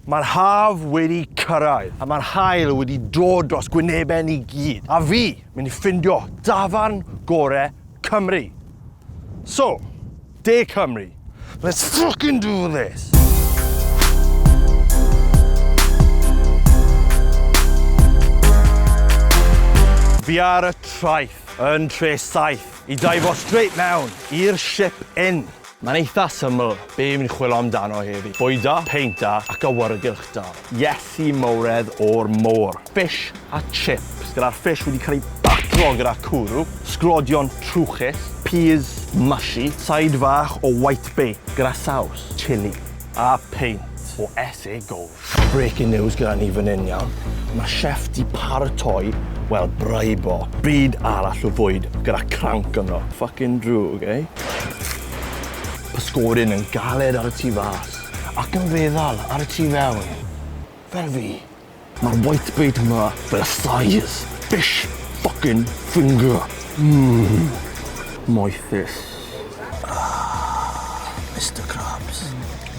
Mae'r haf wedi cyrraedd a mae'r haul wedi dod dros gwynebau ni gyd, a fi, mynd i ffindio dafarn gore Cymru. So, De Cymru, let's fucking do this! Fi ar y traeth, yn Tre Saith, i daifo straight mewn i'r Ship Inn. Mae'n eitha syml be fi'n chwilo amdano heddi, bwyta, peinta ac awyrgylch da. Iesu mawredd o'r môr! Fish a chips gyda'r fish wedi cael ei batlo gyda cwrw, sglodion trwchus, peas mushy, side fach o white bake gyda saws chilli a peint o SA Gold. Breaking news gyda ni fan hyn iawn. Mae chef di paratoi, wel, braibo, byd arall o fwyd gyda cranc ynddo. Fucking drwg, ei? Pysgodyn yn galed ar y tu fas, ac yn feddal ar y tu fewn. Fel fi. Mae'r whitebait yma fel y size fish fucking finger. Mmm. Moethus. Ahh, Mister Krabs.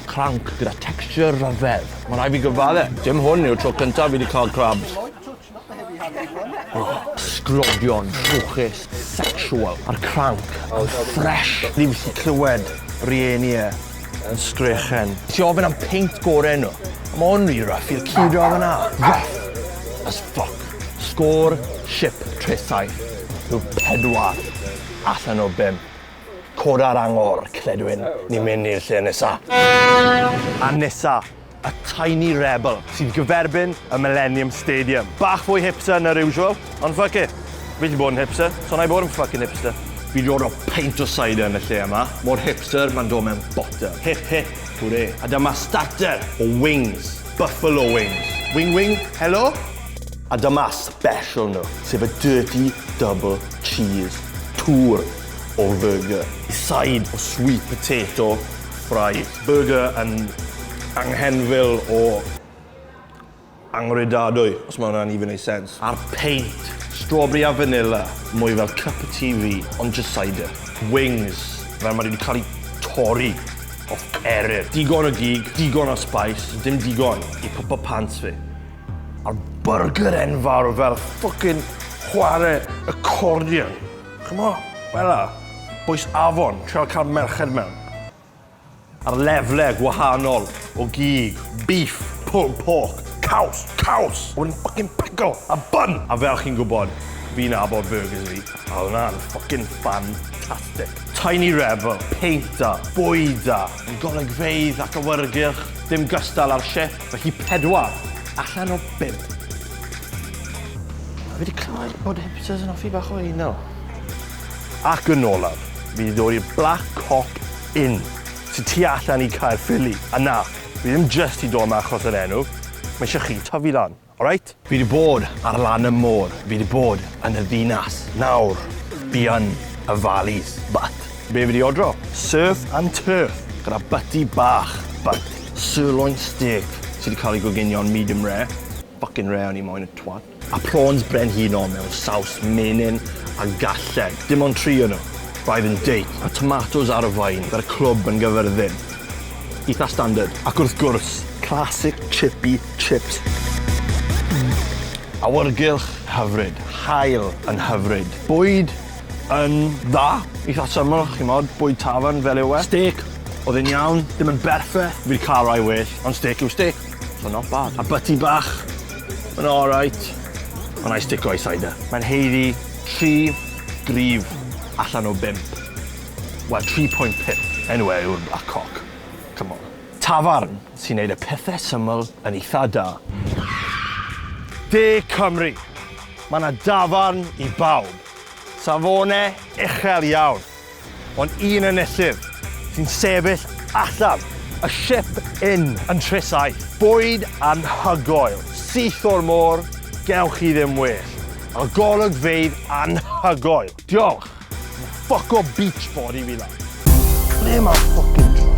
Cranc gyda texture rhyfedd. Ma' rai' fi gyfadde, dim hwn yw'r tro cyntaf fi 'di ca'l crabs. Oh, sglodion, trwchus, sexual, a'r cranc yn fresh. Ni byth 'di clywed rieni e yn sgrechen. Ti ofyn am peint gore nhw. Ma' hwn ry rough i'r curo odd yna. Rough as fuck. Sgôr ship Tre Saith yw pedwar. Allan o bum. Coda'r angor, cledwyn, ni'n mynd i'r lle nesa. A nesa, y Tiny Rebel, sy'n gyferbyn y Millennium Stadium. Bach fwy hipster na'r usual, ond fuck it. Fi allu bod yn hipster, so wna i bod yn fucking hipster. Fi'n dod â peint o cider yn y lle yma. Mor hipster, mae'n dod mewn botel. Hip hip, hwre. A dyma starter o wings. Buffalo wings. Wing wing, helo? A dyma special nhw, sef y Dirty Double Cheese, twr o fyrgyr. Side o sweet potato fries. Byrgyr yn anghenfil o anghredadwy, os mae hwnna'n even neud sense. A'r peint, strawberry a vanilla, mwy fel cup of tea fi, ond jyst cider. Wings, fel maen nhw wedi cael eu torri off eryr. Digon o gig, digon o spice, dim digon i pwmpo pants fi. A'r byrgyr enfawr fel ffwcin chware accordion. Ch'mo'? Fela. Bwys afon, trio cael merched mewn. A'r lefle gwahanol o gig, beef, pulled pork, caws, caws! A wedyn ffycin pickle a bun! A fel chi'n gwybod, fi'n nabod byrgyrs fi, a oedd hwnna'n ffycin ffantastig. Tiny Rebel, peint da, bwyd da, yn golygfeydd ac awyrgylch, dim gystal â'r ship. Felly pedwar allan o bump. Fi wedi clywed bod hipsters yn hoffi bach o anal. Ac yn olaf, fi wedi dod i'r Black Cock Inn, sydd tu allan i Caerffili. A na, fi ddim jyst wedi dod yma achos yr enw, mae eisiau chi tyfu lan, alright? Fi 'di bod ar lan y môr, fi 'di bod yn y ddinas, nawr fi yn y valleys, but. Be fi 'di odro? Surf and turf, gyda butty bach, but. Sirloin steak sy 'di cael ei goginio'n medium rare, fucking rare o'n i moyn, y twat. A prawns brenhinol mewn saws menyn a galled, dim ond tri o nhw, five and date, a tomatos ar y faen, gyda clwb yn Gyfyrddin. Eitha' standard. Ac wrth gwrs, classic chippy Chips. Awyrgylch hyfryd, haul yn hyfryd, bwyd yn dda, eitha syml, ch'mod, bwyd tafarn fel yw e. Stêc, oedd e'n iawn, dim yn berffeth, fi'd ca'l rai well, ond stêc yw stêc, so not bad. A byty bach, ma' n'w alright, ond 'nai stico i cider. Mae'n haeddu tri gryf allan o bump. Wel, tri pwynt pump. Enw e yw'r Black Cock. Come on. Tafarn sy'n neud y pethe syml yn eitha da. De Cymru! Ma' 'na dafarn i bawb. Safone uchel iawn, ond un enillydd sy'n sefyll allan. Y Ship Inn yn Nhrys Aeth. Bwyd anhygoel, syth o'r môr, gewch chi ddim well. A golygfeydd anhygoel. Diolch! Fuck o beach board i fi la. Ble mae fucking drop?